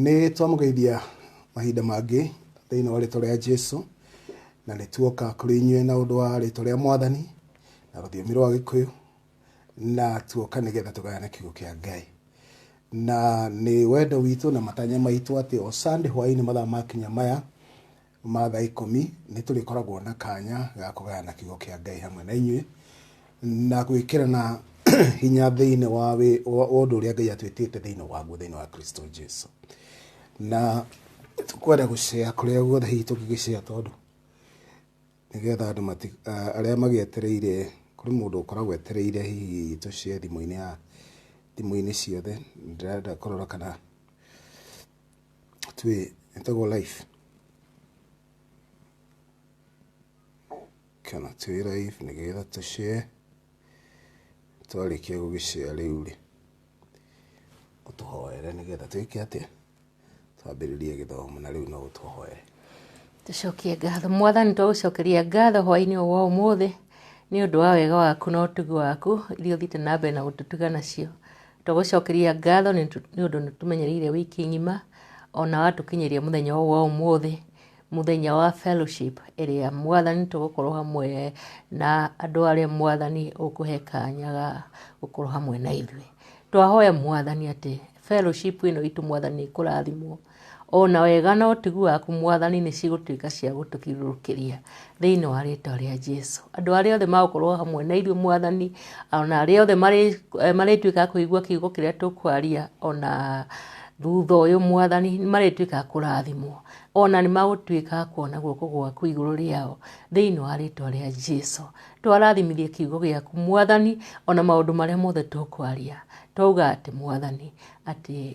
Nĩ twamũgeithia mahinda mangĩ thĩinĩ wa rĩtwa rĩa Jesu na nĩ tuoka kũrĩ inyuĩ na ũndũ wa rĩtwa rĩa mwathani na rũthiomi rwa gĩkũyũ na tuoka nĩgetha tũgayane kiugo kĩa Ngai na nĩ wendo witũ na matanya maitũ atĩ o Sunday hwaĩ-inĩ mathaa makinya maya ma thaa ikũmi, nĩ tũrĩkoragwo na kanya ga kũgayana kiugo kĩa Ngai hamwe na inyuĩ na gwĩkĩrana hinya thĩinĩ wa ũndũ ũrĩa Ngai atwĩtĩte thĩinĩ waguo thĩinĩ wa Kristo Jesu. Na kwenda gũcea kũrĩa guothe hihi tũngĩgĩcea tondũ nĩgetha andũ arĩa magĩetereire kũrĩ mũndũ ũkoragwo etereire hihi tũcee thimũ-inĩ ya thimũ-inĩ ciothe ndĩrenda kũrora kana Tuye, intago life. Kana tuye life nigera tushe. Twarĩkia gũgĩcea rĩu rĩ, ũtũhoere nĩgetha twĩke atĩa? Twambĩrĩrie gĩthomo na rĩu no ũtũhoere. Tũcokie ngatho. Mwathani twagũcokeria ngatho hwaĩ-inĩ ũyũ wa ũmũthĩ nĩ ũndũ wa wega waku na ũtugi waku iria ũthiĩte na mbere na gũtũtuga nacio. Tũgũcokeria ngatho nĩ ũndũ nĩ tũmenyereire wiki ng'ima ona watũkinyĩria mũthenya ũyũ wa ũmũthĩ, mũthenya wa fellowship ĩrĩa mwathani tũgũkorwo hamwe na andũ arĩa mwathani ũkũhe kanya ga gũkorwo hamwe na ithuĩ. Twahoya mwathani atĩ fellowship ĩno itũ mwathani nĩ ĩkũrathimwo. O na wega na ũtugi waku, Mwathani, nĩ cigũtuĩka cia gũtũthiũrũrũkĩria thĩinĩ wa rĩĩtwa rĩa Jesu. Andũ arĩa othe magũkorwo hamwe na ithuĩ, Mwathani, o na arĩa othe marĩ- eh, marĩtuĩka a kũigua kiugo kĩrĩa tũkwaria, o na thutha ũyũ, Mwathani, nĩ marĩtuĩka a kũrathimwo. O na nĩ magũtuĩka a kuona guoko gwaku igũrũ rĩao thĩinĩ wa rĩĩtwa rĩa Jesu. Twarathimithia kiugo gĩaku, Mwathani, o na maũndũ marĩa mothe tũkwaria. Twauga atĩ, Mwathani, atĩ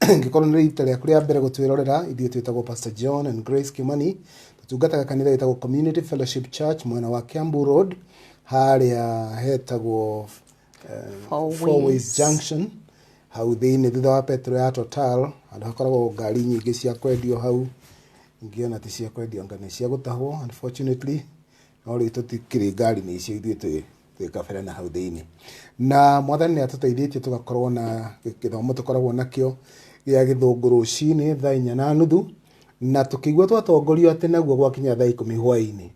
Angĩkorwo nĩ rita rĩaku rĩa mbere gũtwĩrorera, ithuĩ twĩtagwo Pastor John and Grace Kimani. Tũtungataga kanitha wĩtagwo Community Fellowship Church mwena wa Kiambu Road harĩa hetagwo eh, Four Four Ways. Ways Junction hau thĩinĩ thutha wa petro ya Total handũ hakoragwo ngari nyingĩ cia kwendio hau ingĩona ti cia kwendio anga nĩ cia gũtahwo unfortunately no rĩu tũtikĩrĩ ngari-inĩ icio ithuĩ twĩ twĩ kabere na hau thĩinĩ na mwathani nĩ atũteithĩtie tũgakorwo na gĩthomo tũkoragwo nakĩo gĩa gĩthũngũ rũcinĩ thaa inya na nuthu na tũkĩigua twatongorio atĩ naguo gwakinya thaa ikũmi hwaĩ-inĩ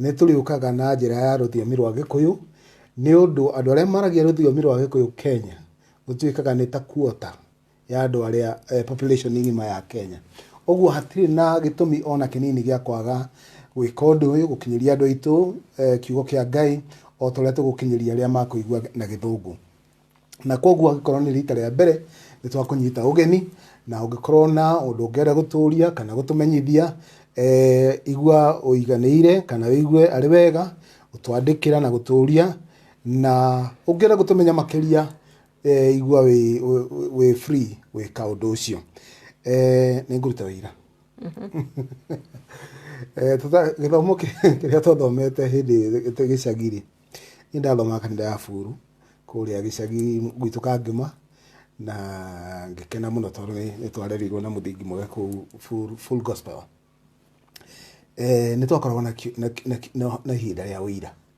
nĩ tũrĩũkaga na njĩra ya rũthiomi rwa gĩkũyũ nĩ ũndũ andũ arĩa maragia rũthiomi rwa gĩkũyũ kenya gũtuĩkaga nĩ ta kuota ya andũ arĩa eh, population ng'ima ya Kenya. Ũguo hatirĩ na gĩtũmi ona kĩnini gĩa kwaga gwĩka ũndũ ũyũ gũkinyĩria andũ aitũ eh, kiugo kĩa Ngai o ta ũrĩa tũgũkinyĩria arĩa makũigua na gĩthũngũ na koguo angĩkorwo nĩ rita rĩa mbere nĩ twakũnyita ũgeni na ũngĩkorwo na ũndũ ũngĩenda gũtũria kana gũtũmenyithia eh, igua ũiganĩire kana wĩigue arĩ wega gũtwandĩkĩra na gũtũria na ũngĩenda gũtũmenya makĩria Eh, igua wĩ wĩ- wĩ- wĩ free gwĩka ũndũ ũcio Eh, nĩ ngũruta wĩira Eh, tũta- gĩthomo kĩ- kĩrĩa twathomete hĩndĩ ĩtĩ gĩcagi-rĩ nĩ ndathomaga kanitha ya buru kũrĩa gĩcagi gwitũ kangĩma na ngĩkena mũno tondũ nĩ- nĩ twarerirwo na mũthingi mwega kũu Full- full gospel Eh, nĩ twakoragwo na ki- na ki- na ki- na- na ihinda rĩa ũira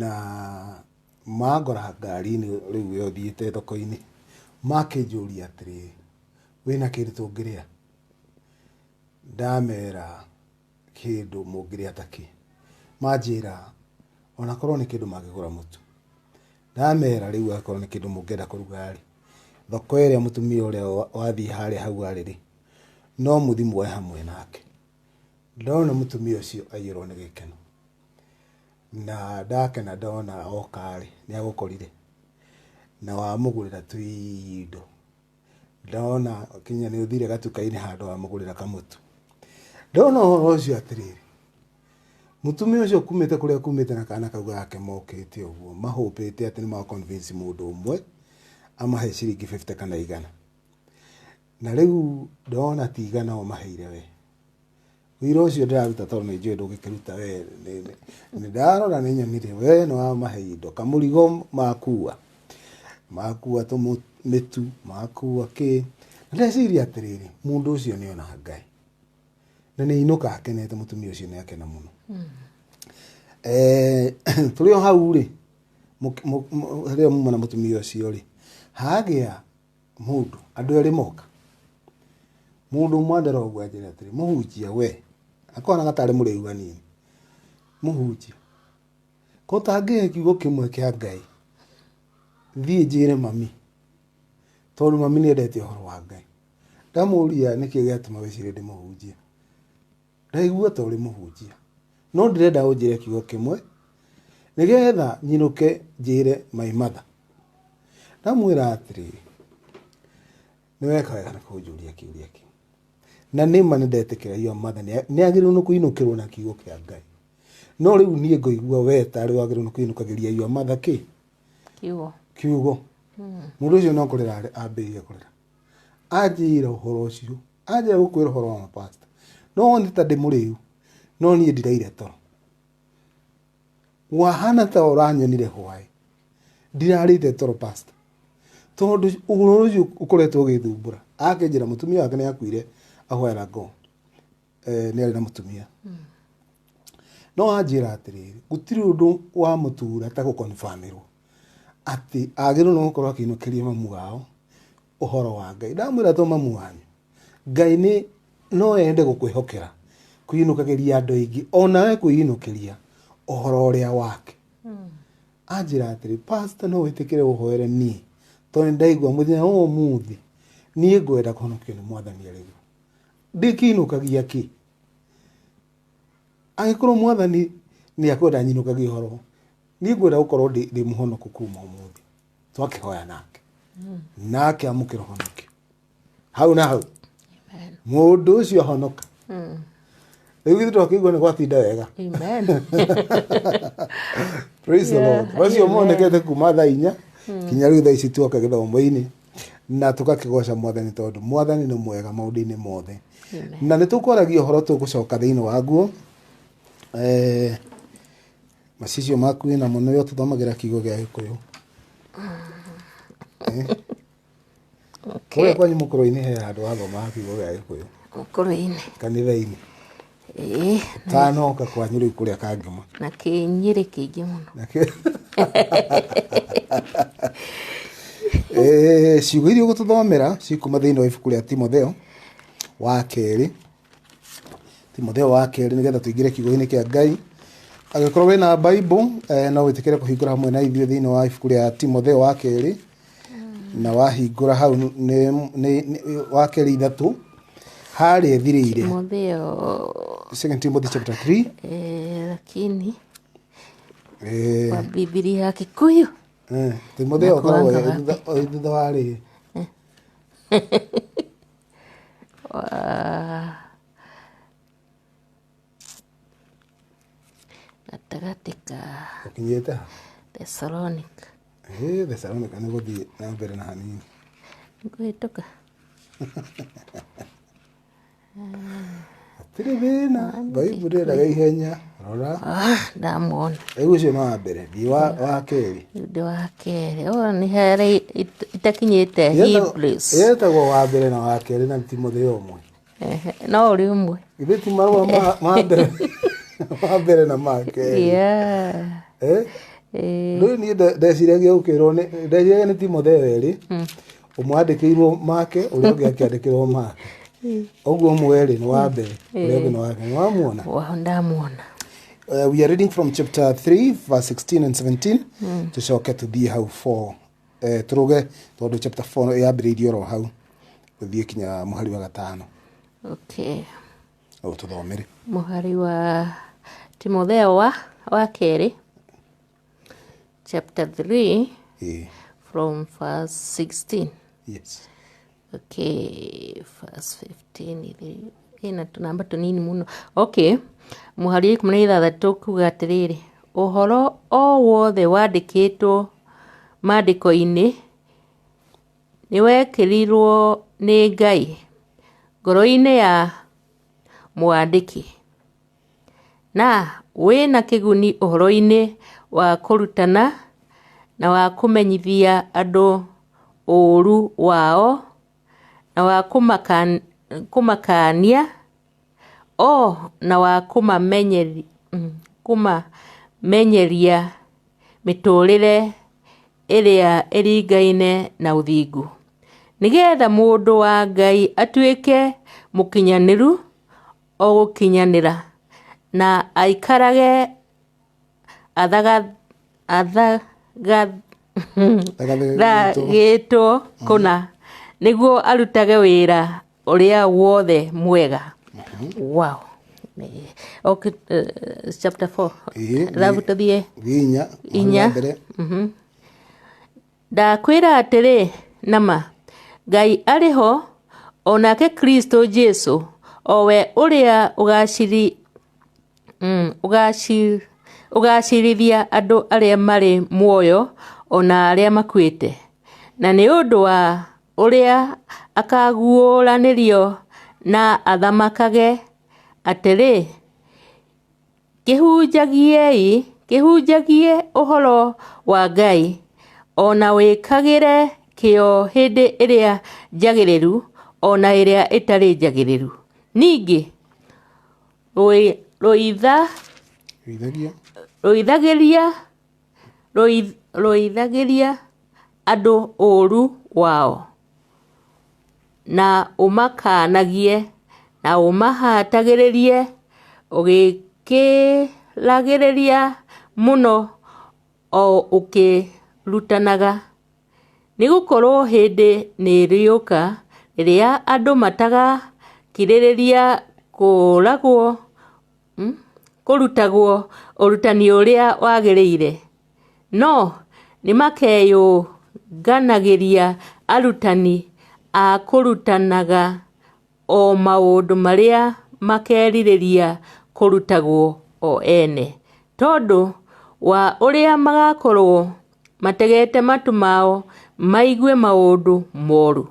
Na mangora ngari-inĩ rĩu ĩyo thiĩte thoko-inĩ, makĩnjũria atĩrĩ, wĩna kĩndũ tũngĩrĩa? Ndamera kĩndũ mũngĩrĩa ta kĩ? Manjĩra ona korwo nĩ kĩndũ mangĩgũra mũtu. Ndamera rĩu akorwo nĩ kĩndũ mũngĩenda kũruga-rĩ, thoko ĩrĩa mũtumia ũrĩa wathiĩ harĩa hau arĩ-rĩ, no mũthi muoe hamwe nake. Ndona mũtumia ũcio aiyũrwo nĩ gĩkeno. Na ndakena ndona oka-rĩ, nĩagũkorire, na wamũgũrĩra tũindo. Ndona nginya nĩũthire gatuka-inĩ handũ wamũgũrĩra kamũtu. Ndona ũhoro ũcio atĩrĩrĩ, mũtumia ũcio kumĩte kũrĩa kumĩte na kana kau gake mokĩte ũguo, mahũpĩte atĩ nĩma convince mũndũ ũmwe, amahe ciringi bĩbite kana igana. Na rĩu ndona ti igana ũmaheire wee. Wĩra ũcio ndĩraruta tondũ nĩ njũĩ ndũngĩkĩruta we. Ndarora nĩ nyonire we nĩ wamahe indo, kamũrigo makua, makua tũmĩtu, makua kĩ. Na ndeciria atĩrĩrĩ, mũndũ ũcio nĩ ona Ngai. Na nĩ ainũka akenete mũtumia ũcio nĩ akena mũno. Eh, tũrĩ o hau rĩ, rĩrĩa muma na mũtumia ũcio rĩ, hagĩa mũndũ, andũ erĩ moka, mũndũ ũmwe ambere ũguo anjĩre atĩrĩ, mũhunjia we, akonaga tarĩ mũrĩu hanini, mũhunjia, ko ũtangĩhe kiugo kĩmwe kĩa Ngai, thiĩ njĩre mami, tondũ mami nĩendete ũhoro wa Ngai. Ndamũria nĩkĩ gĩatũma wĩcire ndĩmũhunjie. Ndaigua ta ũrĩ mũhunjia. No ndĩrenda ũnjĩre kiugo kĩmwe nĩgetha nyinũke njĩre my mother. Ndamwĩra atĩrĩrĩ, nĩ weka wega nĩ kũnjũria kĩũria kĩu. Na nĩ ma nĩ ndetĩkĩra your mother nĩ agĩrĩirwo nĩ kũinũkĩrwo na kiugo kĩa Ngai. No rĩu niĩ ngoigua we tarĩ wagĩrĩirwo nĩ kũinũkagĩria your mother kĩ? Kiugo. Kiugo. Mũndũ ũcio no kũrĩra ambĩrĩria kũrĩra. Anjĩra ũhoro ũcio. anja gukwira horo wa pastor no ni ta ndi muriu no ni ndiraire toro wahana ta uranyonire hwae ndirarite toro pastor tondu uguru ucio ukoretwo ugithumbura akinjira mutumia wake ni akuire ahwera ngo eh, ni ari na mutumia no anjira atiriri gutiri undu wa mutura ta gukonfamirwo ati agirwo no gukorwo akinukiria mamu wao ũhoro wa Ngai. Ndamwĩra to mamu wanyu. Ngai nĩ no ende gũkwĩhokera kũinũkagĩria andũ aingĩ o nawe kwĩinũkĩria ũhoro ũrĩa wake. Anjĩra atĩrĩ, pasta no wĩtĩkĩre ũhoere niĩ tondũ nĩ ndaigua mũthenya wa ũmũthĩ niĩ ngwenda kũhonokio nĩ mwathani arĩ we. Ndĩkĩinũkagia kĩ? Angĩkorwo mwathani nĩ akwenda nyinũkagie ũhoro, niĩ ngwenda gũkorwo ndĩ ndĩ mũhonoku kuma ũmũthĩ. twakihoya nake nake amukira honoki hau na hau mundu ucio ahonoka riu githu twakigua ni gwatinda wega Amen. praise the lord bacio monekete kuma thaa inya kinya riu thaa ici tuoka githomo-ini na tugakigoca mwathani tondu mwathani ni mwega maundu-ini mothe na nä tå kwaragia å horo tå gå coka thä inä waguo eh, macicio maku wĩ namo nĩwe ũtũthomagĩra kiugo gĩa gĩkũyũ Eh? kũrĩa kwanyu mũkũrũ-inĩ he handũ wathomaga kiugo gĩa gĩkũyũ mũkũrũ-inĩ kanitha-inĩ ĩĩ tanoka kwanyu rĩu kũrĩa kangĩma na kĩnyĩrĩ kĩingĩ mũno Eh, ciugo iria ũgũtũthomera cikuma thĩinĩ wa ibuku rĩa timotheo wa kerĩ timotheo wa kerĩ nĩgetha tũingĩre kiugo-inĩ kĩa ngai angĩkorwo wĩ na bible eh, no wĩtĩkĩre kũhingũra hamwe na ithuĩ thĩinĩ wa ibuku rĩa timotheo wa kerĩ na wahingũra hau nĩ- nĩ- nĩ- wa kerĩ ithatũ harĩa ĩthirĩire Timotheo second timothy chapter 3 eh, lakini eh, kwa Biblia ya Kikuyu eh, timotheo akoragwo Nakuangaga thutha wa rĩ gatagatĩ ka ũkinyĩte ha Thessalonica ĩ thesalonika nĩ gũthiĩ na mbere na hanini ngũhĩtũka hatirĩ thĩna baibuli endaga ihenya rora Ah, ndamwona rĩu ũcio nĩ wa mbere thiĩ wa wa kerĩ ũndũ wa kerĩ ũyũ nĩ harĩ it- itakinyĩte Hebrews. yetagwo wa mbere na wa kerĩ na ti mũthĩa ũmwe Ehe, no ũrĩ ũmwe ithe ti marũa ma- ma mbere ma mbere na ma kerĩ Yeah. Eh? Eh, rĩu niĩ nde- ndeciragia gũkĩrwo nĩ ndeciragia nĩ timotheo erĩ ũmwe andĩkĩirwo make ũrĩa ũngĩ akĩandĩkĩrwo make ũguo mwerĩ nĩ wa mbere ũrĩa ũngĩ nĩ wa kerĩ nĩwamuona Wa- ndamuona uh, we are reading from chapter 3 verse 16 and 17 tucoke tuthiĩ hau 4 uh, tũrũge tondũ chapter 4 yambĩrĩirie oro hau gũthiĩ kinya mũhari wa gatano okay au tũthomere mũhari wa timotheo wa wa kerĩ chapter 3 eh. from verse 16 yes okay verse 15 ina tunamba tunini muno okay muhari ikumi na ithathatå kuga atĩrĩrĩ ũhoro o wothe wandĩkĩtwo maandĩko-inĩ nĩwekĩrirwo nĩ ngai ngoro-inĩ ya mwandĩki Na wĩ na kĩguni ũhoro-inĩ wa kũrutana na wa kũmenyithia andũ ũũru wao, na wa kũmakaania, o na wa kũmamenyeria mĩtũũrĩre ĩrĩa ĩringaine na ũthingu, nĩgetha mũndũ wa Ngai atuĩke mũkinyanĩru. o gũkinyanĩra, na aikarage athathagĩtwo kũna, nĩguo arutage wĩra ũrĩa wothe mwega. Wow. Okay, uh, chapter 4 Ĩĩ, arabu tũthiĩ gĩinya inya mbere Mhm. Ndakwĩra atĩrĩ, na ma, Ngai arĩ ho, o nake Kristo Jesu, o we ũrĩa ũgaciri, mm, ũgaci, ũgacirithia andũ arĩa marĩ muoyo o na arĩa makuĩte. Na nĩ ũndũ wa ũrĩa akaguũranĩrio na athamakage atĩrĩ, Kĩhunjagiei, kĩhunjagie ũhoro wa Ngai, o na wĩkagĩre kĩyo hĩndĩ ĩrĩa njagĩrĩru o na ĩrĩa ĩtarĩ njagĩrĩru. Ningĩ rũithagĩria andũ ũũru wao. na ũmakaanagie, na ũmahatagĩrĩrie ũgĩkĩragĩrĩria mũno o ũkĩrutanaga. Nĩ gũkorwo hĩndĩ nĩ ĩrĩũka, ĩrĩa andũ matakakirĩrĩria kũũragwo. kũrutagwo ũrutani ũrĩa wagĩrĩire, no nĩmakeyũnganagĩria arutani a kũrutanaga o maũndũ marĩa makerirĩria kũrutagwo o ene. Tondũ wa ũrĩa magakorwo mategete matũ mao maigue maũndũ moru.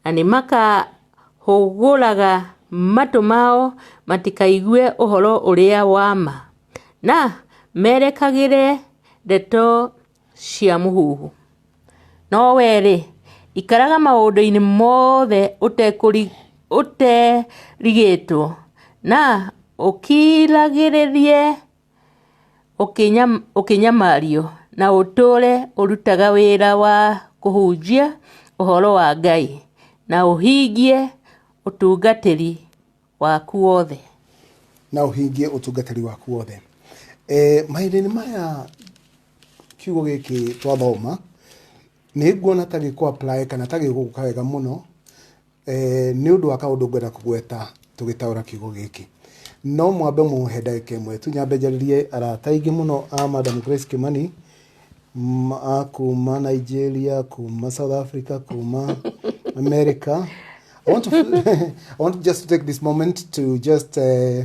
na nĩ makahũgũraga matũ mao matikaigue ũhoro ũrĩa wa ma, na merekagĩre ndeto cia mũhuhu. No wee-rĩ, ikaraga maũndũ-inĩ mothe ũterigĩtwo, na ũkiragĩrĩrie. ũkĩnyamario, na ũtũũre ũrutaga wĩra wa kũhunjia ũhoro wa Ngai, na ũhingie ũtungatĩri waku wothe. na ũhingie ũtungatĩri waku wothe e, mahinda-inĩ maya kiugo gĩkĩ twathoma nĩ nguona ta gĩkũ apply kana ta gĩgũka wega mũno Eh, nĩ ũndũ wa kaũndũ ngwenda kũgweta tũgĩtaũra kiugo gĩkĩ no mwambe mũhe ndagĩka ĩmwe tu nyambe njarĩrie arata aingĩ mũno a madam grace kimani m- a kuma nigeria kuma south africa kuma america I want, to, I want just to take this moment to just uh,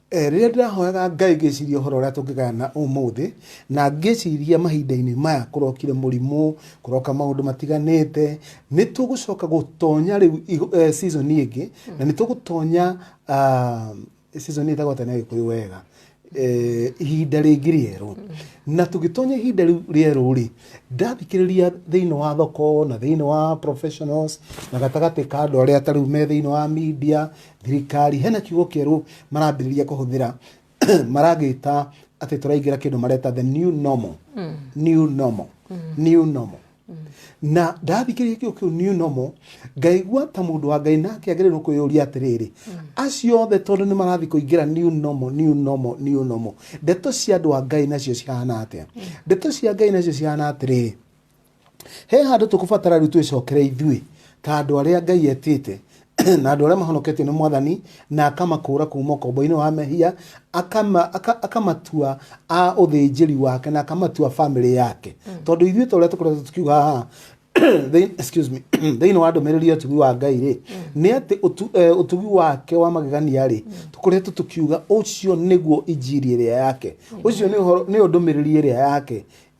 Rĩrĩa ndĩrahoyaga Ngai ngĩciria ũhoro ũrĩa tũngĩgayana ũmũthĩ, na ngĩciria mahinda-inĩ maya kũrokire mũrimũ, kũroka maũndũ matiganĩte, nĩ tũgũcoka gũtonya rĩu season ĩngĩ, na nĩ tũgũtonya season ĩtagwo atĩa na Gĩkũyũ wega, ihinda rĩngĩ rĩerũ. Na tũgĩtonya ihinda rĩu rĩerũ rĩ, ndathikĩrĩria thĩinĩ wa thoko na thĩinĩ wa professionals na gatagatĩ ka andũ arĩa ta rĩu me thĩinĩ wa media, Thirikari hena kiugo kĩerũ marambĩrĩria kũhũthĩra maragĩta atĩ tũraingĩra kĩndũ mareta the new normal mm. new normal mm. new normal mm. na ndathikĩrĩria kĩo kĩu new normal ngaigua ta mũndũ wa ngai nake agĩrĩirwo kwĩyũria atĩrĩrĩ mm. acio othe tondũ nĩ marathiĩ kũingĩra new normal new normal new normal ndeto cia andũ a ngai nacio cihana atĩa mm. ndeto cia ngai nacio cihana atĩrĩrĩ he handũ tũkũbatara rĩu twĩcokere ithuĩ ta andũ arĩa ngai etĩte na andũ arĩa mahonoketio nĩ mwathani na akamakũra kuuma ũkombo-inĩ wa mehia akama- aka- akamatua a ũthĩnjĩri wake na akamatua bamĩrĩ yake tondũ ithuĩ ta ũrĩa tũkoretwo tukiuga haha thĩ- excuse me, thĩinĩ wa ndũmĩrĩri ya ũtugi wa ngai rĩ nĩ atĩ ũtu- eh, ũtugi wake wa magegania rĩ tũkoretwo tũkiuga ũcio nĩguo injiri ĩrĩa yake ũcio nĩ ũhoro- nĩyo ndũmĩrĩri ĩrĩa yake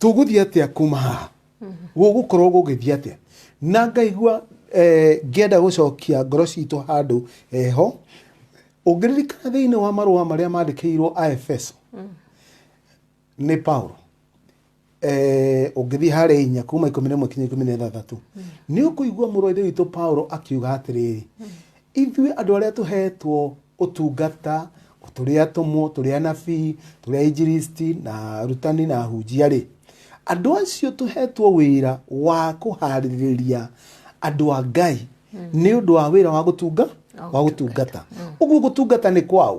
tũgũthiĩ atĩa kuma haha gũgũkorwo gũgĩthiĩ atĩa na ngaigua eh, ngĩenda gũcokia ngoro citũ handũ heho ũngĩririkana thĩinĩ wa marũa marĩa mandĩkĩirwo aefeso nĩ paulo eh, ũngĩthiĩ harĩa inya kuma ikũmi na ĩmwe kinya ikũmi na ithathatũ nĩ ũkũigua mũrũ wa ithe witũ paulo akiuga atĩrĩrĩ Ithuĩ andũ arĩa tũheetwo ũtungata, o tũrĩ atũmwo, tũrĩ anabii, tũrĩ ainjilisti, na arutani, na ahunjia-rĩ, andũ acio tũheetwo wĩra wa kũhaarĩrĩria andũ a Ngai nĩ ũndũ wa wĩra wa gũtunga, wa gũtungata. Ũguo gũtungata nĩ kwaũ?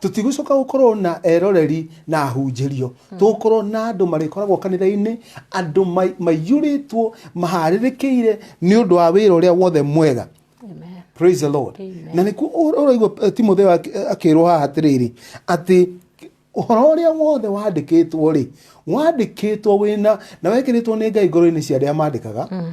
tũtigũcoka gũkorwo na eroreri na ahunjĩrio hmm. tũgũkorwo na andũ marĩkoragwo kanitha-inĩ andũ maiyũrĩtwo maharĩrĩkĩire nĩ ũndũ wa wĩra ũrĩa wothe mwega praise the lord na nĩkuo ũraigua eh, timotheo eh, akĩrwo haha atĩrĩrĩ atĩ ũhoro ũrĩa wothe wandĩkĩtwo rĩ wandĩkĩtwo wĩna na wekĩrĩtwo nĩ ngai ngoro-inĩ cia arĩa mandĩkaga hmm.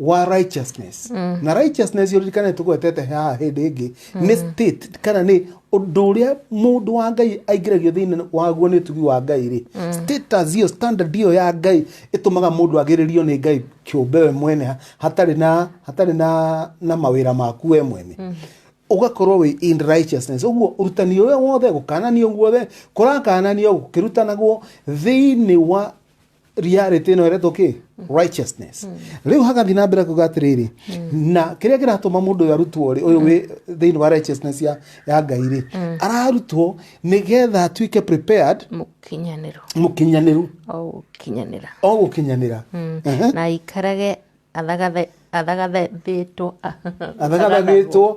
wa righteousness na righteousness yoririkane tugwetete haha hĩndĩ ĩngĩ nĩ state kana nĩ ũndũ ũrĩa mũndũ wa ngai aingĩragio thĩinĩ waguo nĩ ũtugi wa ngai rĩ status iyo standard iyo ya ngai ĩtũmaga mũndũ agĩrĩrio nĩ ngai kĩũmbe we mwene ha- hatarĩ na hatarĩ na na mawĩra maku we mwene ũgakorwo wĩ in righteousness ũguo ũrutani ũrĩa wothe gũkananio guothe kũrakananio gũkĩrutanagwo thĩinĩ wa reality ĩno ĩretwo kĩ righteousness rĩu hagathiĩ na mbere kuga atĩrĩrĩ na kĩrĩa kĩratũma mũndũ ũyũ arutwo rĩ ũyũ wĩ thĩinĩ wa righteousness ya, ya ngai rĩ ararutwo nĩgetha atuĩke prepared mũkinyanĩro mũkinyanĩru o gũkinyanĩra o gũkinyanĩra Ehe. na aikarage athagathe- athagathathĩtwo athagathathĩtwo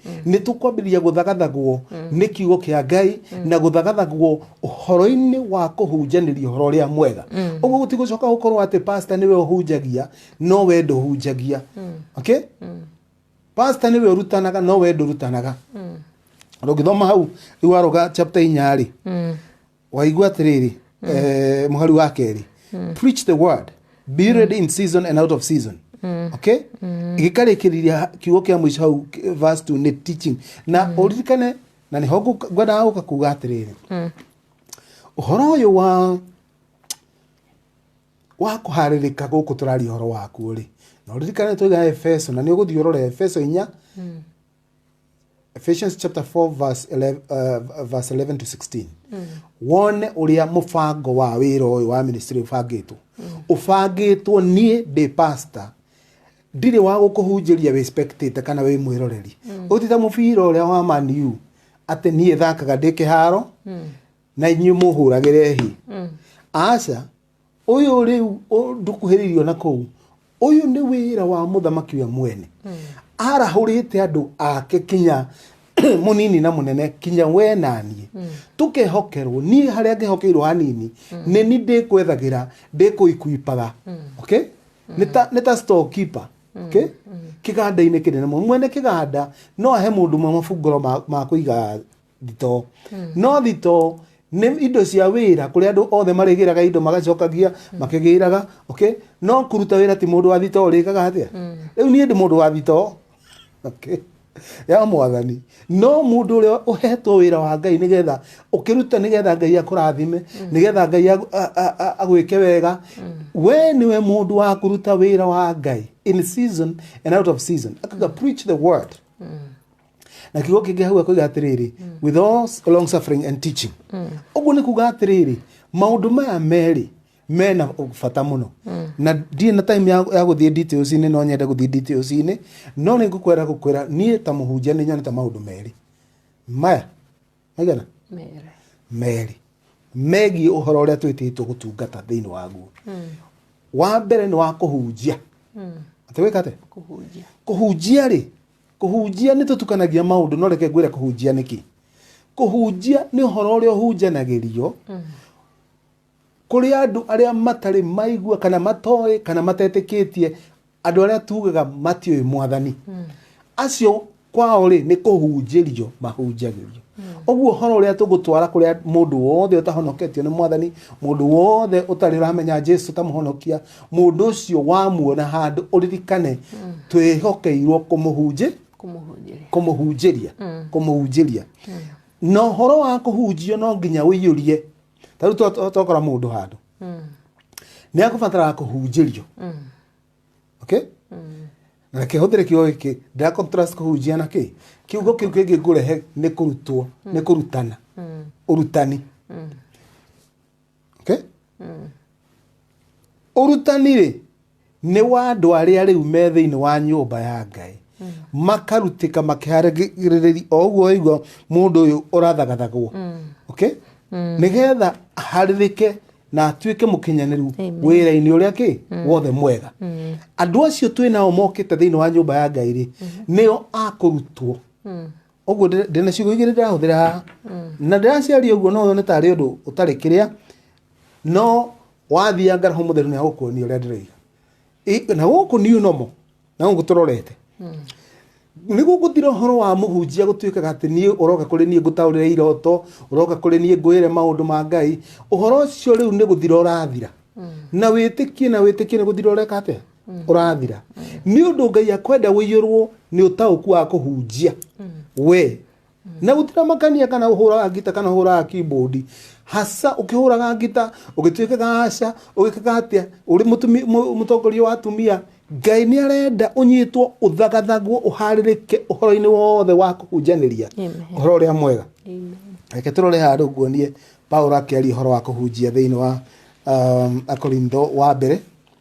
nĩ tũkwambĩrĩria gũthagathagwo nĩ kiugo kĩa ngai na gũthagathagwo ũhoro-inĩ wa kũhunjanĩria ũhoro ũrĩa mwega ũguo gũtigũcoka gũkorwo atĩ pasta nĩwe ũhunjagia no we ndũhunjagia okay? pasta nĩwe ũrutanaga no we ndũrutanaga rũngĩthoma hau rĩu waroga chapter inya rĩ waigua atĩrĩrĩ eh, mũhari wa kerĩ preach the word be ready in season and out of season okay gĩkarĩkĩrĩria kiugo kĩa mũico hau k- verse two nĩ teaching na ũririkane na nĩho ngũ- ngwendaga gũka kuga atĩrĩrĩ ũhoro ũyũ wa wa kũharĩrĩka gũkũ tũraria ũhoro wakuo rĩ na ũririkane tũiga efeso na nĩ ũgũthiĩ ũrore efeso inya Ephesians chapter 4 verse 11, uh, verse 11 to 16 wone uria mubango wa wira uyu wa ministry ubangitwo ubangitwo nie ndi pastor ndirĩ wa gũkũhunjĩria wĩ spectator kana wĩ mwĩroreri ũtita mũbira ũrĩa wa Man U atĩ niĩ thakaga ndĩ kĩharo na inyuĩ mũhũragĩre hi aca ũyũ rĩu ndũkuhĩrĩirio na kũu ũyũ nĩ wĩra wa mũthamaki we mwene hmm. arahũrĩte andũ ake kinya munini na munene kinya we naniĩ hmm. tũkehokerwo niĩ harĩa ngĩhokeirwo hanini hmm. nĩ ni ndĩkwethagira ndĩkũikuipaga okay nĩ ta store keeper okay kiganda-inĩ kĩnene mwene kiganda no ahe mũndũ mwe mabungũro ma kũiga thitoo no thitoo nĩ indo cia wĩra kũrĩa andũ othe marĩgĩraga indo magacokagia makĩgĩraga okay no kũruta wĩra ti mũndũ wa thitoo ũrĩkaga atĩa rĩu niĩ ndĩ mũndũ wa thitoo okay ya mwathani no mũndũ ũrĩa ũhetwo wĩra wa ngai nĩgetha ũkĩruta nĩgetha ngai akũrathime nĩgetha ngai agũ- a- a- a- agwĩke wega we nĩwe mũndũ wa kũruta wĩra wa ngai in season and out of season akaga preach the word na kiugo kĩngĩ hau akoiga atĩrĩrĩ with all s- long suffering and teaching ũguo nĩ kuga atĩrĩrĩ maũndũ maya merĩ mena bata mũno na ndirĩ na time ya ya gũthiĩ details-inĩ no nyende gũthiĩ details-inĩ no nĩ ngũkwenda gũkwĩra niĩ ta mũhunjia nĩ nyonete maũndũ merĩ maya maigana Mere. merĩ megiĩ ũhoro ũrĩa twĩtĩtwo gũtungata thĩinĩ waguo wa mbere nĩ wa kũhunjia atĩ wĩka atĩa Kũhunjia. kũhunjia rĩ Kũhunjia nĩ tũtukanagia maũndũ no reke ngwĩre kũhunjia nĩ kĩ. Kũhunjia nĩ ũhoro ũrĩa ũhunjanagĩrio kũrĩ andũ arĩa matarĩ maigua kana matoĩ kana matetĩkĩtie andũ arĩa tugaga matiũĩ mwathani. Acio kwao rĩ nĩ kũhunjĩrio mahunjagĩrio. Ũguo ũhoro ũrĩa tũgũtwara kũrĩa mũndũ wothe ũtahonoketio nĩ mwathani, mũndũ wothe ũtarĩ ũramenya Jesu ta mũhonokia, Mũndũ ũcio wamuona handũ ũririkane twĩhokeirwo kũmũhunjĩ kũmũhunjĩria kũmũhunjĩria kũmũhunjĩria na ũhoro wa kũhunjio no nginya ũiyũrie ta rĩu to- to- tokora mũndũ handũ nĩ akũbataraga kũhunjĩrio okay na reke hũthĩre kiugo gĩkĩ ndĩra contrast kũhunjia na kĩ kiugo kĩu kĩngĩ ngũrehe nĩ kũrutwo nĩ kũrutana ũrutani okay? ũrutani rĩ nĩ wa andũ arĩa rĩu me thĩinĩ wa nyũmba ya ngai makarutĩka makĩharĩrĩria o ũguo waigua mũndũ ũyũ ũrathagathagwo okay? nĩgetha aharĩrĩke na atuĩke mũkinyanĩru wĩra-inĩ ũrĩa kĩ wothe mwega andũ acio twĩ nao mokĩte thĩinĩ wa nyũmba ya ngai rĩ nĩo akũrutwo ũguo ndĩ- ndĩ na ciugo igĩrĩ ndĩrahũthĩra haha na ndĩraciaria ũguo no nĩ tarĩ ũndũ ũtarĩ kĩrĩa no wathianga roho mũtheru nĩ agũkuonia ũrĩa ndĩroiga Ĩ- na gũkũ niũ nomo na gũkũ tũrorete nĩ gũgũthira ũhoro wa mũhunjia gũtuĩkaga atĩ niĩ ũroka kũrĩ niĩ ngũtaũrĩre iroto ũroka kũrĩ niĩ ngwĩre maũndũ ma ngai ũhoro ũcio rĩu nĩ gũthira ũrathira na wĩtĩkie na wĩtĩkie nĩ gũthira ũreka atĩa ũrathira nĩ ũndũ ngai akwenda wĩiyũrwo nĩ ũtaũku wa kũhunjia we na gũtiramakania kana ũhũraga ngita kana ũhũraga keyboard haca ũkĩhũraga ngita ũgĩtuĩkaga haca ũgĩkaga atĩa ũrĩ mũtumi- mũ- mũtongoria wa atumia ngai nĩ arenda ũnyitwo ũthagathagwo ũharĩrĩke ũhoro-inĩ wothe wa kũhunjanĩria Amen. ũhoro ũrĩa mwega Amen. reke tũrore handå nguonie paulo akĩaria ũhoro wa kũhunjia thĩinĩ wa um, akorintho wa mbere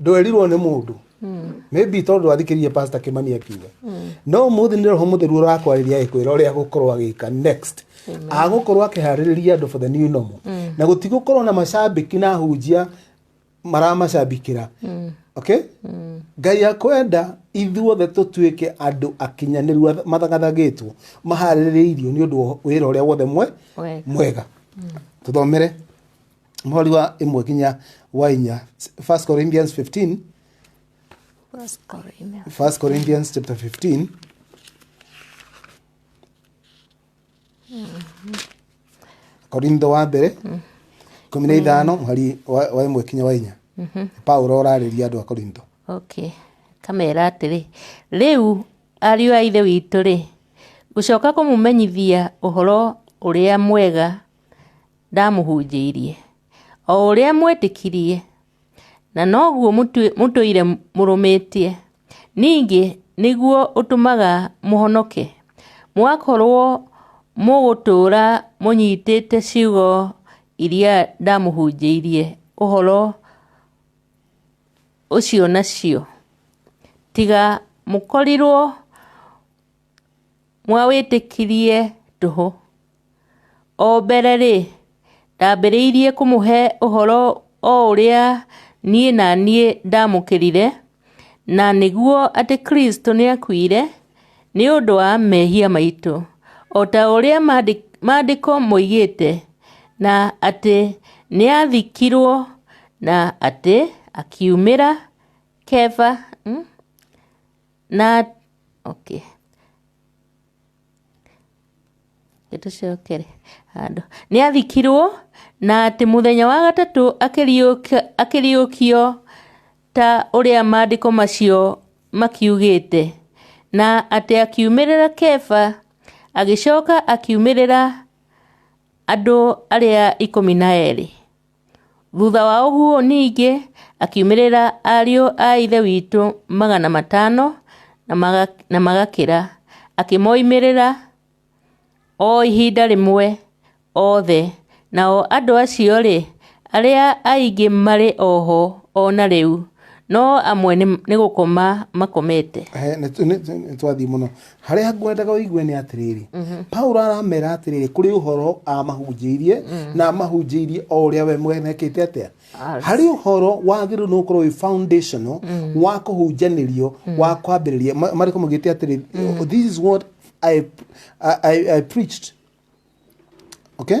ndwerirwo nĩ mũndũ maybe tondũ athikĩrĩrie pastor kimani akiuga no mũthĩ nĩ roho mũtheru ũrakwarĩria ĩkwĩra ũrĩa agũkorwo agĩka next agũkorwo akĩharĩrĩria andũ for the new normal na gũtigũkorwo na macambĩki na hunjia maramacambĩkĩra okay ngai akwenda ithuothe tũtuĩke andũ akinyanĩru atha- mathagathagĩtwo maharĩrĩirio nĩ ũndũ wa wĩra ũrĩa wothe mwe Wega. mwega tũthomere mweri wa imwe nginya wa inya 1 corinthians 15 First Corinthians. 1 corinthians chapter 15 korintho wa mbere kumi na ithano mweri wa wa imwe nginya wa inya paulo ũrarĩria andũ a korintho okay kamera atĩrĩ rĩu ariũ a ithe witũ-rĩ gũcoka kũmũmenyithia ũhoro ũrĩa mwega ndamũhunjĩirie, o ũrĩa mwetĩkirie, na noguo mũtũire mũrũmĩtie, ningĩ nĩguo ũtũmaga mũhonoke, mũgakorwo mũgũtũũra mũnyitĩte ciugo iria ndamũhunjĩirie ũhoro ũcio nacio, tiga mũkorirwo. mwawĩtĩkirie tũhũ. O mbere rĩ, ndambĩrĩirie kũmũhe ũhoro o ũrĩa niĩ na niĩ ndamũkĩrire, na nĩguo atĩ Kristo nĩ akuire nĩ ũndũ wa mehia maitũ, o ta ũrĩa maandĩko moigĩte, na atĩ nĩ aathikirwo, na atĩ akiumĩra Kefa. na okay reke tũcokere handũ nĩ athikirwo na atĩ mũthenya wa gatatũ akĩriũka- akĩriũkio ta ũrĩa maandĩko macio makiugĩte na atĩ akiumĩrĩra keba agĩcoka akiumĩrĩra andũ arĩa ikũmi na erĩ Thutha wa ũguo ningĩ akiumĩrĩra ariũ a Ithe witũ magana matano na maga- na magakĩra, akĩmoimĩrĩra o ihinda rĩmwe othe. Nao andũ acio-rĩ, arĩa aingĩ marĩ oho o na rĩu, no amwe nĩ nĩ gũkoma makomete He, nĩ- nĩ- nĩ- nĩtwathiĩ mũno harĩa ngwendaga ũigue nĩ atĩrĩrĩ paulo aramera atĩrĩrĩ kũrĩ ũhoro amahunjĩirie na amahunjĩirie o ũrĩa we mwene ekĩte atĩa Arĩ. harĩ ũhoro wagĩrĩirwo nĩ gũkorwo wĩ foundational wa kũhunjanĩrio wa kwambĩrĩria Ma- marĩko magĩte atĩrĩ this is what I, I, I, I preached okay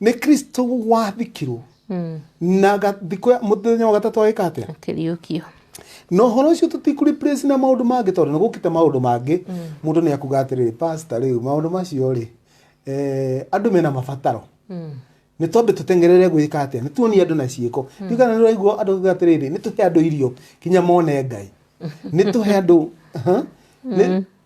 nä kristo wathikirwo na ga- thikå ya må thenya wa gatatå agä ka atä a akĩriũkio na horo ũcio tũtikũreplace na maũndũ mangĩ tondũ nĩ gũkĩte maũndũ mangĩ mũndũ nĩ akuga atĩrĩrĩ pasta rĩu maũndũ macio rĩ eh, andũ mena mabataro nĩ twambe tũtengerere gwĩka atĩa nĩ tuonie andũ na ciĩko rĩu kana nĩ ũraigua andũ kuga atĩrĩrĩ nĩ tũhe andũ irio kinya mone ngai nĩ tũhe andũ Aha. Nĩ-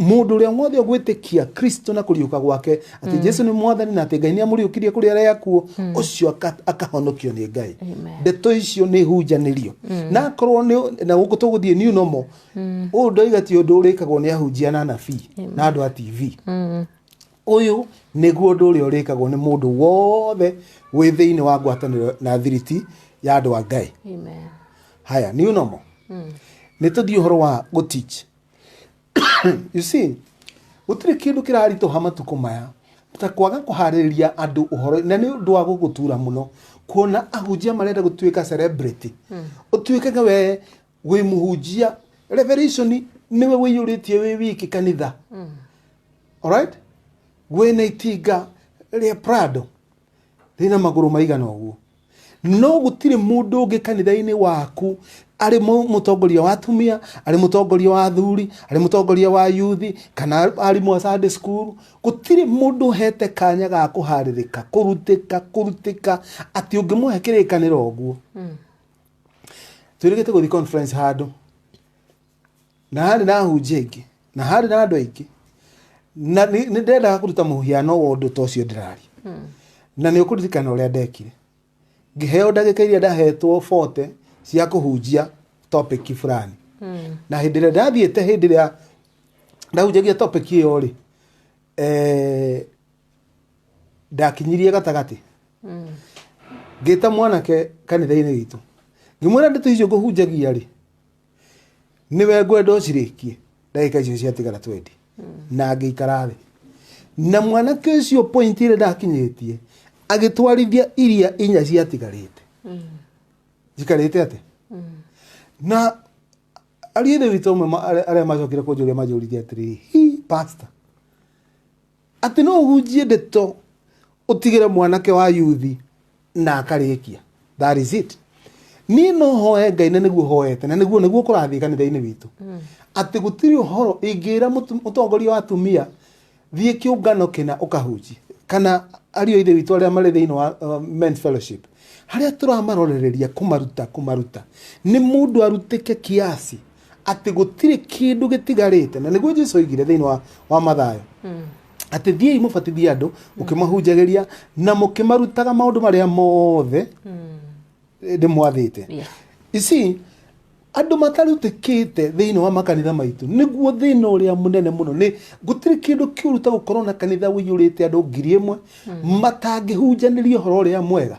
mũndũ ũrĩa wothe ũgwĩtĩkia kristo na kũriũka gwake atĩ jesu nĩ mwathani na atĩ ngai nĩ amũriũkirie kũrĩ arĩa akuo ũcio aka- akahonokio nĩ ngai Amen. ndeto icio nĩ hunjanĩrio na akorwo nĩ na gũkũ tũgũthiĩ new normal ũyũ ndoiga ti ũndũ ũrĩkagwo nĩ ahunjia na anabii na andũ a tv ũyũ nĩguo ũndũ ũrĩa ũrĩkagwo nĩ mũndũ wothe wĩ thĩinĩ wa ngwatanĩro na thiriti ya andũ a ngai Amen. haya new normal nĩ tũthiĩ ũhoro wa gũteach you see gũtirĩ kĩndũ kĩraritũha matukũ maya ta kwaga kũharĩrĩria andũ ũhoro na nĩ ũndũ wa gũgũtura mũno kuona ahunjia marenda gũtuĩka celebrity ũtuĩkage we wĩ mũhunjia revelation nĩwe wĩiyũrĩtie wĩ wiki kanitha alright wĩna itinga rĩa prado rĩna magũrũ maigana ũguo no gũtirĩ mũndũ ũngĩ kanitha-inĩ waku arĩ mũ- mũtongoria wa atumia arĩ mũtongoria wa athuri arĩ mũtongoria wa yuthi kana arimũ a Sunday school gũtirĩ mũndũ ũhete kanya ga kũharĩrĩka kũrutĩka kũrutĩka atĩ ũngĩmũhe kĩrĩkanĩro ũguo twĩrĩgĩte gũthiĩ conference handũ na harĩ na ahunjia aingĩ na harĩ na andũ aingĩ na nĩ nĩ ndendaga kũruta mũhiano wa ũndũ ta ũcio ndĩraria na nĩ ũkũririkana ũrĩa ndekire ngĩheo ndagĩka iria ndahetwo bote cia kũhunjia topic fulani na hĩndĩ ĩrĩa ndathiĩte hĩndĩ ĩrĩa ndahunjagia topic ĩyo rĩ eh, ndakinyirie gatagatĩ ngĩta mwanake kanitha-inĩ witũ ngĩmwĩra ndeto icio ngũhunjagia rĩ nĩwe ngwenda ũcirĩkie ndagĩka icio ciatigara twendi na ngĩikara thĩ na mwanake ũcio point ĩrĩa ndakinyĩtie agĩtwarithia iria inya ciatigarĩte njikarĩte atĩ na ariĩthĩ witũ ũmwe ma- arĩa- arĩa macokire kũnjũria manjũririe atĩrĩ hi pastor Atĩ no ũhunjie ndeto ũtigĩre mwanake wa yuthi na akarĩkia. That is it. Niĩ no hoe Ngai na nĩguo hoete na nĩguo nĩguo kũrathiĩ kanitha-inĩ witũ. Atĩ gũtirĩ ũhoro ingĩra mũtu- mũtongoria wa atumia thiĩ kĩũngano kĩna ũkahunjie kana ariũ a ithe witũ arĩa marĩ thĩinĩ wa uh, men's fellowship harĩa tũramarorereria kũmaruta kũmaruta nĩ mũndũ arutĩke kiasi atĩ gũtirĩ kĩndũ gĩtigarĩte na nĩguo jesu oigire thĩinĩ wa, wa mathayo atĩ thiĩi mũbatithie andũ mũkĩmahunjagĩria na mũkĩmarutaga maũndũ marĩa mothe ndĩmwathĩte Yeah. ici andũ matarutĩkĩte thĩinĩ wa makanitha maitũ nĩguo thĩna ũrĩa mũnene mũno nĩ gũtirĩ kĩndũ kĩũru ta gũkorwo na kanitha ũiyũrĩte andũ ngiri ĩmwe matangĩhunjanĩria ũhoro ũrĩa mwega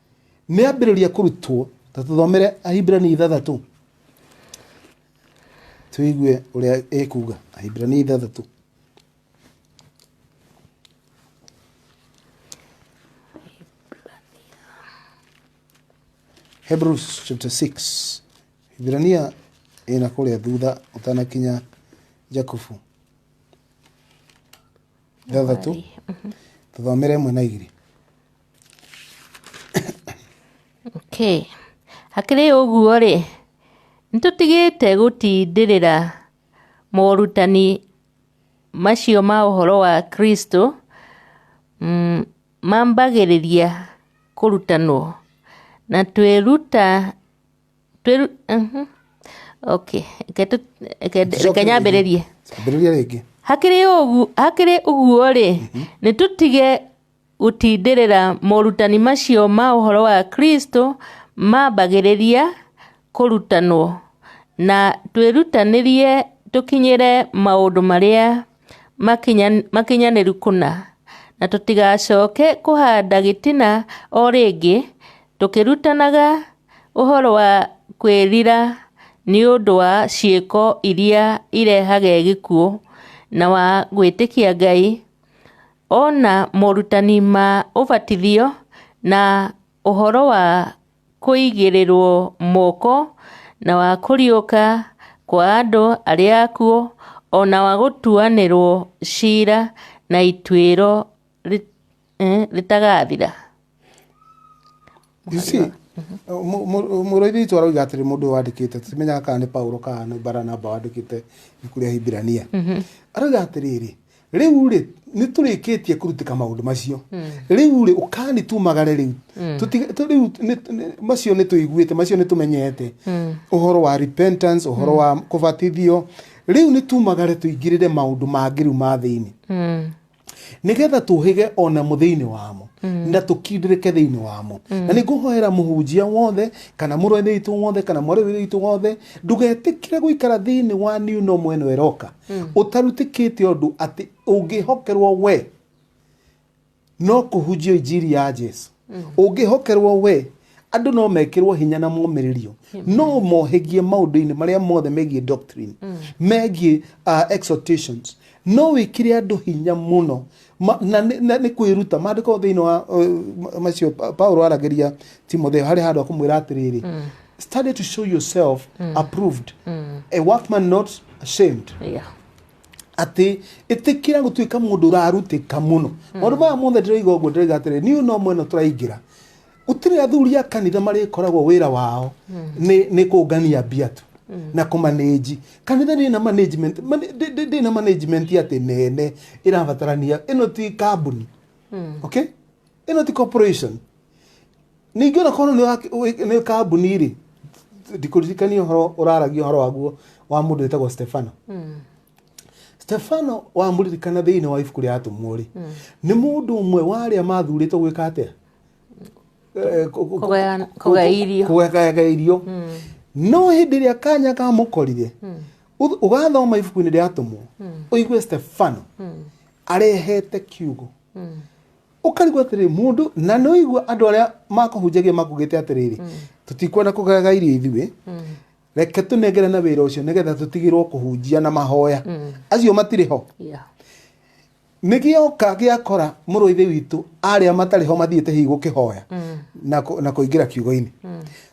nĩ ambĩrĩria kũrutwo ta tũthomere ahibirania ithathatũ tũigue ũrĩa ĩkuga ahibirania ithathatũ Hebrews chapter 6 Hibrania ĩna kũrĩa thutha ũtanakinya Jakubu ithathatũ tũthomere ĩmwe na igĩrĩ Okay. Hakĩrĩ ũguo-rĩ, nĩtũtigĩte gũtindĩrĩra morutani macio ma ũhoro wa Kristo mm, mambagĩrĩria kũrutanwo na twĩruta twĩru, mhm. okay. Reke tũ- reke- reke nyambĩrĩrie Ambĩrĩria rĩngĩ. hakĩrĩ ũgu- hakĩrĩ ũguo-rĩ nĩtũtige Gũtindĩrĩra morutani macio ma ũhoro wa Kristo mambagĩrĩria kũrutanwo, na twĩrutanĩrie tũkinyĩre maũndũ marĩa makinyanĩru kũna, na tũtigacoke kũhanda gĩtina o rĩngĩ, tũkĩrutanaga ũhoro wa kwĩrira nĩ ũndũ wa ciĩko iria irehage gĩkuũ, na wa gwĩtĩkia Ngai. Ona morutani ma ũbatithio na ũhoro wa kũigĩrĩrwo moko na wa kũriũka kwa andũ arĩa akuũ ona wa gũtuanĩrwo cira na ituĩro rĩtagathira. You see, Mũhari wa- mu- mu- mũrũithia witũ aroiga atĩrĩ mũndũ ũyũ wandĩkĩte timenyaga kana nĩ paulo kana nĩ baranaba wandĩkĩte ibuku rĩa hibirania aroiga atĩrĩrĩ rĩu rĩ nĩ tũrĩkĩtie kũrutĩka maũndũ macio rĩu rĩ ũkani tumagare rĩu Tũti- tũ- rĩu nĩ- nĩ- macio nĩ tũiguĩte macio nĩ tũmenyete ũhoro wa repentance ũhoro wa kũbatithio rĩu nĩ tumagare tũingĩrĩre maũndũ mangĩ rĩu ma thĩinĩ Mm. nĩgetha tũhĩge ona mũ thĩinĩ wamo mm. na tũkindĩrĩke thĩinĩ wamo mm. na nĩ ngũhoera mũhunjia wothe kana mũrũainĩ witũ wothe kana mwarĩwĩra witũ wothe ndũgetĩkĩre gũikara thĩinĩ wa niũ no mwena ĩroka mm. ũtarutĩkĩte ũndũ atĩ ũngĩhokerwo we no kũhunjio injiri ya jesu ũngĩhokerwo we andũ no mekĩrwo hinya na momĩrĩrio no mohĩgie maũndũ-inĩ marĩa mothe megiĩ doctrine megiĩ uh, exhortations no wĩkĩre andũ hinya mũno Ma- na nĩ- na nĩ kwĩruta maandĩko thĩinĩ wa uh, ma- macio Pa- paulo aragĩria timotheo harĩ handũ akũmwĩra atĩrĩrĩ study to show yourself approved a workman not ashamed yeah. atĩ ĩtĩkĩra gũtuĩka mũndũ ũrarutĩka mũno hmm. maũndũ maya mothe ndĩroiga ũguo ndĩroiga atĩrĩ niũ no mwena tũraingĩra gũtirĩ athuri a kanitha marĩkoragwo wĩra wao hmm. nĩ kũngania mbia tu hmm. na kũmanĩji kanitha ndĩna management ndĩna management atĩ nene ĩrabatarania ĩno ti kambuni okay ĩno ti corporation ningĩ ona korwo nĩ waki- wĩ- nĩ kambuni rĩ ndikũririkania ũhoro ũraragia ũhoro waguo wa mũndũ wĩtagwo stefano stefano wamũririkana thĩinĩ wa ibuku rĩa atũmwo rĩ nĩ mũndũ ũmwe wa arĩa mathurĩtwo gwĩka atĩa Eh, kũ- kũ- Kũgayana- kũ- kũgaya irio. kũgayana irio no hĩndĩ ĩrĩa kanya kamũkorire ũth- ũgathoma ibuku-inĩ rĩa atũmwo ũigue stefano arehete kiugo ũkarigwo atĩrĩ mũndũ na nĩ ũigua andũ arĩa makũhunjagia makugĩte atĩrĩrĩ tũtikwenda kũgaga irio ithuĩ reke tũnengere na wĩra ũcio nĩgetha tũtigĩrwo kũhunjia na mahoya acio matirĩ ho Yeah. nä gä oka gä akora må rå ithe witå arä a matarä ho mathiä te hihi gå kä hoya na kå- na kå ingä ra kiugo-inä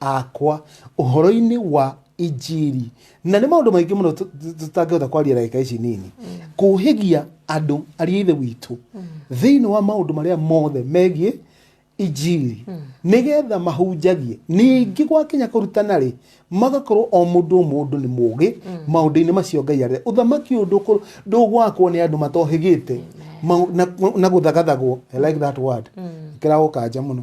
akwa ũhoro-inĩ wa injiri na nĩ maũndũ maingĩ mũno tũ- tũ- tũtangĩhota kwaria ndagĩka ici nini kũhĩgia andũ ariĩ ithe witũ thĩinĩ wa maũndũ marĩa mothe megiĩ injiri nĩgetha mahunjagie ningĩ gwakinya kũrutana rĩ magakorwo o mũndũ o mũndũ nĩ mũgĩ maũndũ-inĩ macio ngai arĩa ũthamaki ũyũ ndũkũ- ndũgwakwo nĩ andũ matohĩgĩte Mau- na- na gũthagathagwo I like that word ĩkĩrago kanja mũno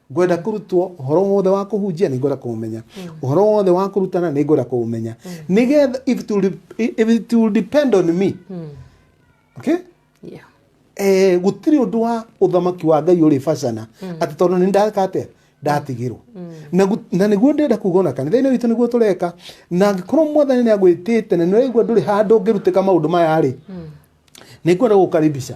ngwenda kũrutwo ũhoro wothe wa kũhunjia nĩ ngwenda kũũmenya ũhoro wothe wa kũrutana nĩ ngwenda kũũmenya nĩgetha if it will, if it will depend on me okay Yeah. eh, gũtirĩ ũndũ wa ũthamaki wa ngai ũrĩ bacana atĩ tondũ nĩ ndaka atĩa ndatigirwo na gu- na nĩguo ndĩrenda kuga ona kanitha-inĩ witũ nĩguo tũreka na angĩkorwo mwathani nĩ agwĩtĩte na nĩraigua ndũrĩ handũ ũngĩrutĩka maũndũ maya rĩ nĩ ngwenda gũkaribisha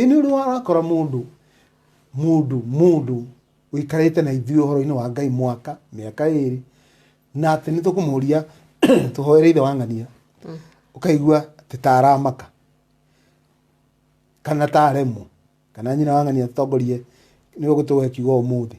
Ĩ nĩ ũrĩ warakora mũndũ, mũndũ, mũndũ ũikarĩte na ithuĩ ũhoro-inĩ wa Ngai mwaka, mĩaka ĩrĩ, na atĩ nĩ tũkũmũria tũhoere ithe wa ng'ania, ũkaigua atĩ ta aramaka, kana ta aremwo, kana nyina wa ng'ania atongorie nĩ ũguo tũgũgĩkiuga ũmũthĩ.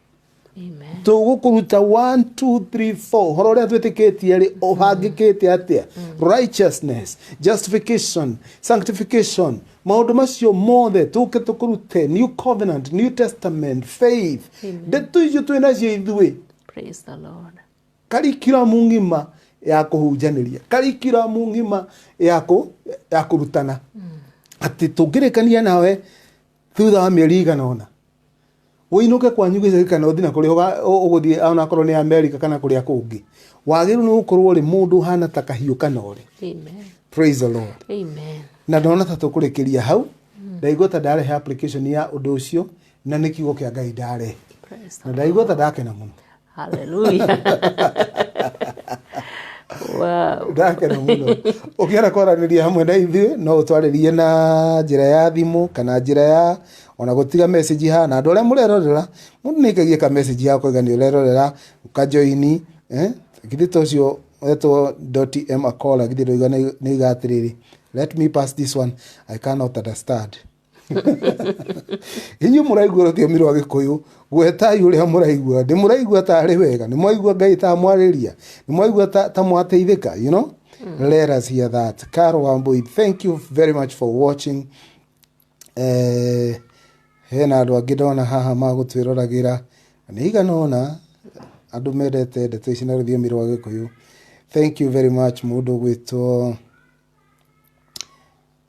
Amen. tũgũkũruta 1 2 3 4 horo ũrĩa twĩtĩkĩtie rĩ ũbangĩkĩte atĩa righteousness justification sanctification maũndũ macio mothe tũke tũkũrute new covenant new testament faith ndeto icio twĩ nacio ithuĩ Praise the Lord. karikiramu ng'ima ya kũhunjanĩria karikiramu ng'ima ya kũ- ya kũrutana atĩ tũngĩrĩkania nawe thutha wa mĩeri igana ũna ũinũke kwanyu gĩcagi kana ũthiĩ na kũrĩa ũga- ũ- ũgũthiĩ ona akorwo nĩ amerika kana kũrĩa kũngĩ wagĩrĩirwo nĩ gũkorwo rĩ mũndũ ũhana ta kahiũ kanore Amen. praise the lord Amen. na ndona ta tũkũrĩkĩria hau ndaigua ta ndarehe application ya ũndũ ũcio na nĩ kiugo kĩa ngai ndarehe Praise na ndaigua ta ndakena mũno haleluya wow. ndakena muno ukienda kwaraniria hamwe na ithuĩ no utwaririe na njira ya thimu kana njira ya ona gutiga message ha na andu aria murerorera mundu ni ikagie ka message ya kuigania urerorera ukajoini eh githi tocio etwo m akola githi ndoiga ni igatiriri let me pass this one i cannot understand inyuĩ mũraigua rũthiomi rwa gĩkũyũ gwetai ũrĩa mũraigua nĩ mũraigua ta arĩ wega nĩ mwaigua ngai ta amwarĩria nĩ mwaigua ta, ta mwateithĩka you know mm. let us hear that Carol Wambui thank you very much for watching eh, hena andũ angĩ ndona haha magũtwĩroragĩra na nĩ igana ũna andũ mendete ndeto ici na rũthiomi rwa gĩkũyũ thank you very much mũndũ gwĩtwo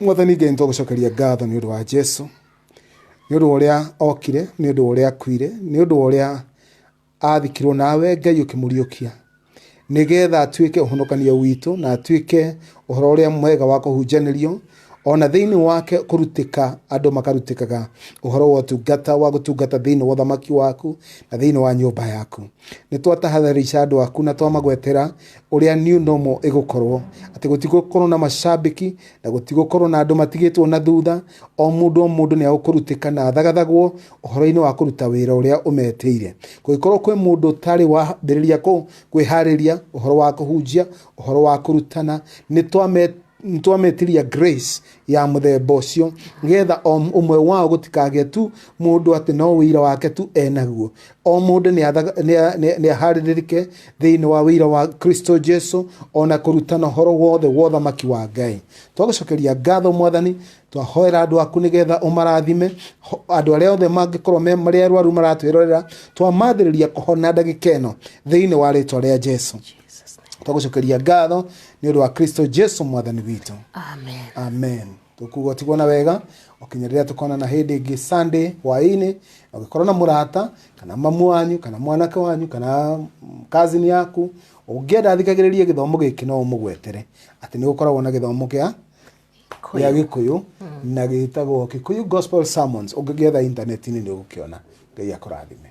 mwathani ngai nitũgũcokeria ngatho nĩ ũndũ wa jesu nĩ ũndũ wa ũrĩa okire nĩ ũndũ wa ũrĩa akuire nĩ ũndũ wa ũrĩa athikirwo nawe ngai ũkĩmũriũkia nĩgetha atuĩke ũhonokanio witũ na atuĩke ũhoro ũrĩa mwega wa kũhunjanĩrio ona thĩinĩ wake kũrutĩka andũ makarutĩkaga ũhoro wa ũtungata wa gũtungata thĩinĩ wa ũthamaki waku na thĩinĩ wa nyũmba yaku nĩ twatahadharisha andũ aku na twamagwetera ũrĩa new normal ĩgũkorwo atĩ gũtigũkorwo na macambĩki na gũtigũkorwo na andũ matigĩtwo na thutha o mũndũ o mũndũ nĩ agũkũrutĩka na athagathagwo ũhoro-inĩ wa kũruta wĩra ũrĩa ũmetĩire kũngĩkorwo kwĩ mũndũ ũtarĩ wambĩrĩria kũ- kwĩharĩria ũhoro wa kũhunjia ũhoro wa kũrutana nĩ twame nĩtwametiria grace ya mũthemba ũcio getha o ũmwe wao gũtikagĩe tu mũndũ atĩ no wĩira wake tu enaguo o mũndũ nĩ aharĩrĩrĩke thĩinĩ wa wĩira wa kristo jesu ona kũrutana ũhoro wothe wa ũthamaki wa ngai twagũcokeria ngatho mwathani twahoera andũ aku nĩgetha ũmarathime Ho- andũ arĩa othe mangĩkorwo me- marĩ arwaru maratwĩrorera twamathĩrĩria kũhona ndagĩka ĩno thĩinĩ wa rĩtwa rĩa jesu Jesus' name. twagucokeria ngatho nĩ ũndũ wa kristo jesu mwathani witũ Amen. amen tũkuga ũtigwo na wega ũkinya rĩrĩa tũkonana hĩndĩ ĩngĩ sunday hwaĩ-inĩ ũngĩkorwo na mũrata kana mamu wanyu kana mwanake wanyu kana kazini yaku ũngĩenda athikagĩrĩrie gĩthomo gĩkĩ no ũmũgwetere atĩ nĩ gũkoragwo na gĩthomo gĩa gĩa gĩkũyũ na gĩtagwo kikuyu gospel sermons ũngĩgĩetha intaneti-inĩ nĩ ũgũkĩona ngai akũrathime